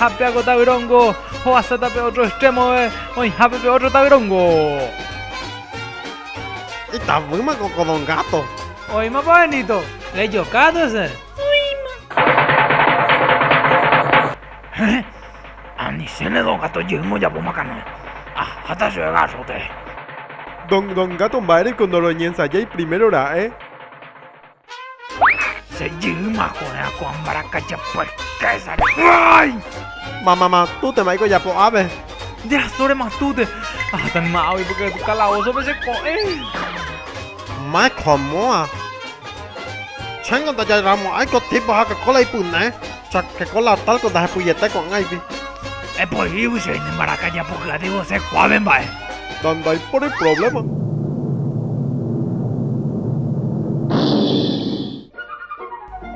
Ha pe água tavyróngo ho'asáta pe ótro estrémove oĩhápe pe ótro tavyróngo. Itavýma ko Don Gato. Oĩmapa Benito. Rejokátu hese. Oĩma. Héẽ, anichéne Don Gato jeýma ojapóma canoe. Aháta chéve garrote. Don Gato mba'éreiko ndoroñensajái primero ra'e? Che jyma ko'ẽrã ko'ã mbarakaja purkésare. Mamama, tútema iko japo ápe. Jasórema túte. Aháta nima águi porque calabozópe che ko'ẽ. Mike ha Moa. Chéngo ndajairamo'ãi ko tipo Coca-Cola ipyne. Sa keko la talco ndahepyjete ko'ãgui. Epohígui che ne mbaraka japohy'aty vose kuáve mba'e. Na ndaipóri problema.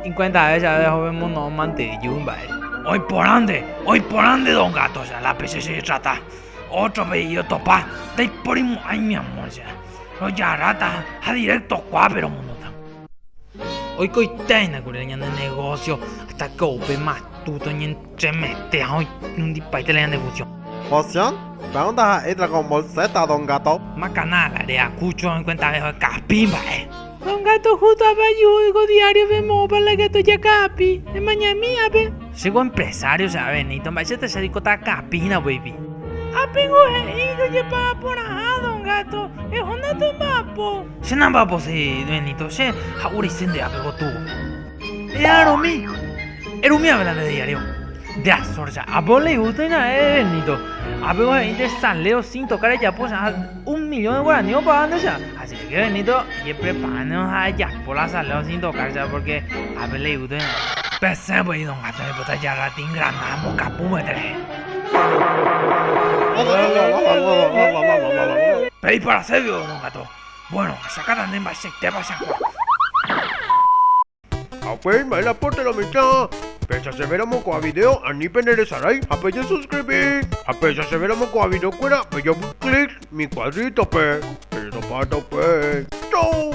Ikuentave che avei ahove mono'õ mante iju mba'e. Oiporande, oiporande dos gatos ya la pe che chejetrata. Otro pe iotopa, ndaipóri mo'ãi mi amor ya. Rojarrata ha directo kuápe romonóta. Oikoitéina kuri ñane negósio hasta ko upe matu toñentremete ha oinundipaite la ñande fusión. Fusión? Péva ndaha'éicha ko mbolséta, don Gato. Makana la reakucho oikuentave okapi mba'e. Don Gato justo apayu'úi ko diáriope moõpa la Gato jakapi. Emañami ápe. Che ko empresario che ave Nito, mba'éichata che reikóta akapi hína upéipi. Ápengo he'i jojepa'aporãha, don Gato. Eho ndatomba'apo. Che namba'apose dueñito che ha oreise nde ápe gotúvo. E'arõmi, erumiave la nde diario. Nde Azor ja'ápe leiúta hína e dueñito. Ápe ohe'i nde salero sin tocar ejapo che ha un millón de guaraní opaga nde che. Ajeréke dueñito jepreparáneno ha ejapo la salero sin tocar che porque ápe leiúta hína. Pesẽ voi don Gato oipota jarra tin granada mbokapu vete rehe. Pe iparaségui vos don Gato. Ha upéi mba'e la pórtela mitã. Péicha chéve ramo ko'ã vidéo ani peneresarái ha pejesuskribi. Ha péicha chéve ramo ko'ã videokuéra pejopy clic mi kuadrítope. Pejesopárta upéi. Chau!